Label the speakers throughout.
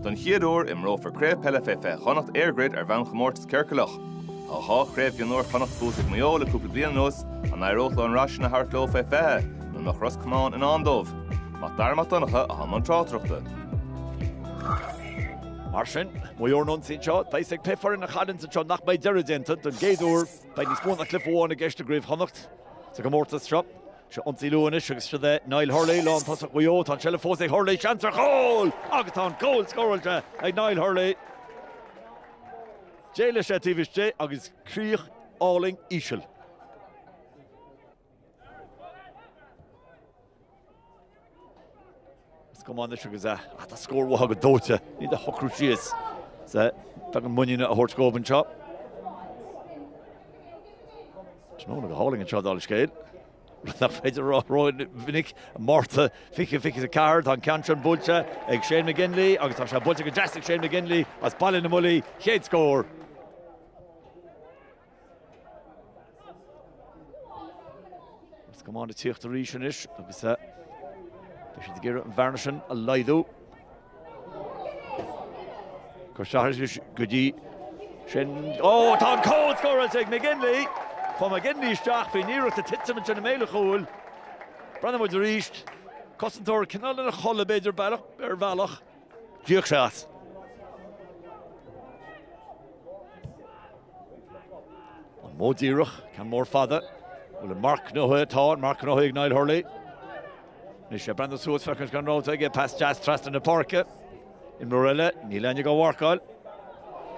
Speaker 1: Don chéad uair, imreofar Craobh Peile fé 20 Chonnacht EirGrid ar bhonn chomórtas ciorcalach. Tá dhá Chraobh Mhionúir Chonnacht buaite ag Maigh Eo le cúpla bliain anuas, an éireoidh leo an rath sin a thabhairt leo fé 20, nó an iad Ros Comáin i ndán dóibh? Mac Dara Mac Donncha i mbun na
Speaker 2: tráchtaireachta. Mar sin, Maigh Eo an ionsaí anseo, deis ag péire foireann a chailleann anseo nach mbeidh deireadh déanta don gcéad uair, beidh níos mó ná cluiche amháin i gceist i gCraobh Chonnacht sa gcomórtas seo. Seo ionsaí leo anois agus seo é Niall Hurley, lántosach Mhaigh Eo. Tá an seilbh fós ag Hurley, seans ar chúl! Agus tá an cúl scóráilte ag Niall Hurley. D'éalaigh sé taobh istigh agus críoch álainn íseal. Ros Comáin anois agus tá scór uathu go dóite, ní hiad a shocrú síos. Sea, beagán muiníne a thabhairt dhóibh anseo. Tráthnóna go hálainn anseo, dála an scéil, rud nach féidir a rá ró-mhinic. Márta 2024, tá an ceann sin buailte ag Shane McGinley agus tá sé buailte go deas ag Shane McGinley as Baile na mBuillí, chéad scór! Ros Comáin ag tíocht arís anois agus eh beidh siad ag iarraidh an bhearna sin a laghdú. Cur isteach anois go dtí sin. Ó, tá an cúl scóráilte ag McGinley. Chuaigh McGinley isteach faoin iarracht ag titim ansin i mbéal an chúil. Breathnóidh muid arís. Cosantóir cineál ina chodladh b'fhéidir ar bhealach. Bíodh sé as! An modh díreach, ceann mór fada, an bhfuil marc gnóite? Tá, an marc gnóite ag Niall Hurley. Anois é ag breathnú suas, feiceann sé an rogha aige, pas deas trasna na páirce. Imreoir eile, níl éinne dhá mharcáil.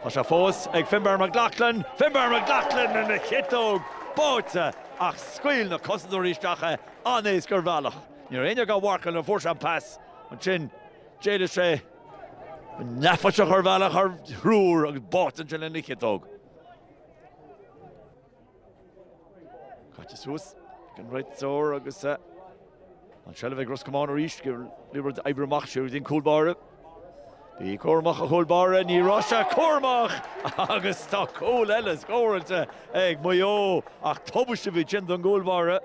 Speaker 2: Tá sé fós ag Finbar McLaughlin, Finbar McLaughlin lena chiotóg, báite ach scaoil na cosantóirí isteach é an-éasca ar bhealach. Ní raibh éinne dhá mharcáil nuair a fuair sé an pas. Ansin, d'éalaigh sé an-éasca ar bhealach thar thriúr agus báite ansin lena chiotóg. Caite suas ag an réiteoir agus an seilbh ag Ros Comáin arís, ag iarraidh rud a oibriú amach siar go dtí an cúl báire. Bhí, a chur amach an cúl báire, níor éirigh leis é a chur amach agus tá cúl eile scóráilte ag Maigh Eo ach tubaiste ab í sin don gcúl báire.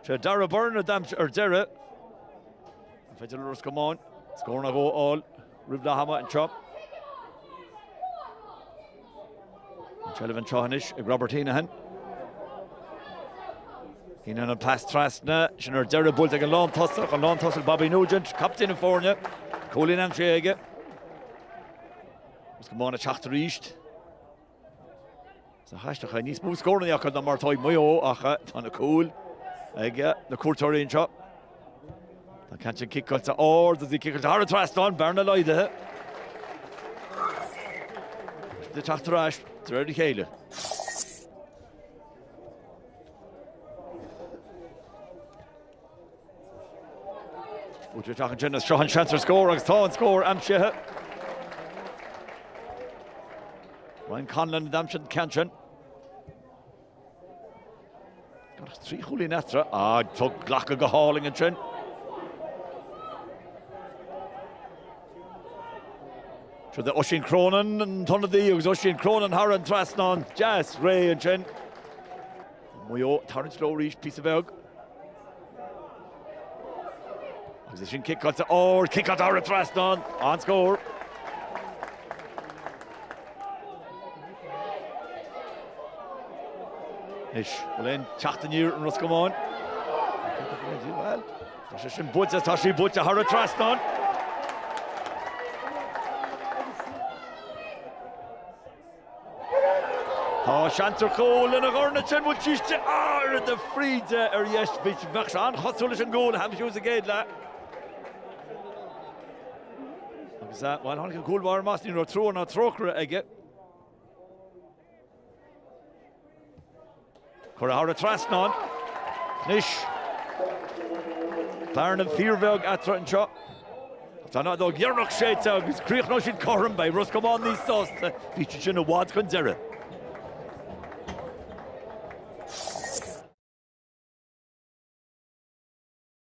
Speaker 2: Sé Darragh Byrne a d'aimsigh ar deireadh. An féidir le Ros Comáin scór nó dhó a fháil roimh leath ama anseo? An seilbh anseo anois ag Robert Heneghan. Heneghan an pas trasna, sin ar deireadh buailte ag an lántosach, an lántosach Bobby Nugent, captaen na foirne, cúilín anseo aige. Ros Comáin ag teacht arís. Is aisteach níos mó scóranna acu ná mar atá ag Maigh Eo ach tá na cúil ag na cuairteoirí anseo. Tá an ceann sin ciceáilte ard agus í ciceáilte thar an trasnán, bearna laghdaithe. Ag teacht ar ais de réir a chéile. Tugtha isteach ansin is seo an seans ar scór agus tá an scór aimsithe. Ryan Conlon a d'aimsigh an ceann sin. Gan ach trí chúilín eatarthu, á tugtha glactha go hálainn ansin. Siúd é Oisín Cronin an t-ionadaí agus Oisín Cronin thar an trasnán deas réidh ansin. Maigh Eo ag tarraingt leo arís, píosa beag. Agus é sin ciceáilte ard, ciceáilte ard thar trasnán an scór. Anois, bhfuil aon teacht aniar i Ros Comáin. Bhuel, tá sé sin buailte, tá sí buailte thar an trasnán. Tá seans ar chúl ina dhorn ansin bhfuil tuiste dá ard na fríde ar dheis. Bheadh sé an-chosúil leis an gcúl Ham Hughes sa gcéad leath. Agus, bhuel, tháinig an cúl báire amach, ní raibh trua ná trócaire aige. Cuireadh thar an trasnán. Anois, bearna fíorbheag eatarthu anseo. Tá an fheadóg dheireanach séidte agus críochnóidh siad cothrom. Beidh Ros Comáin níos sásta. Bhí siad sin i bhfad chun deiridh.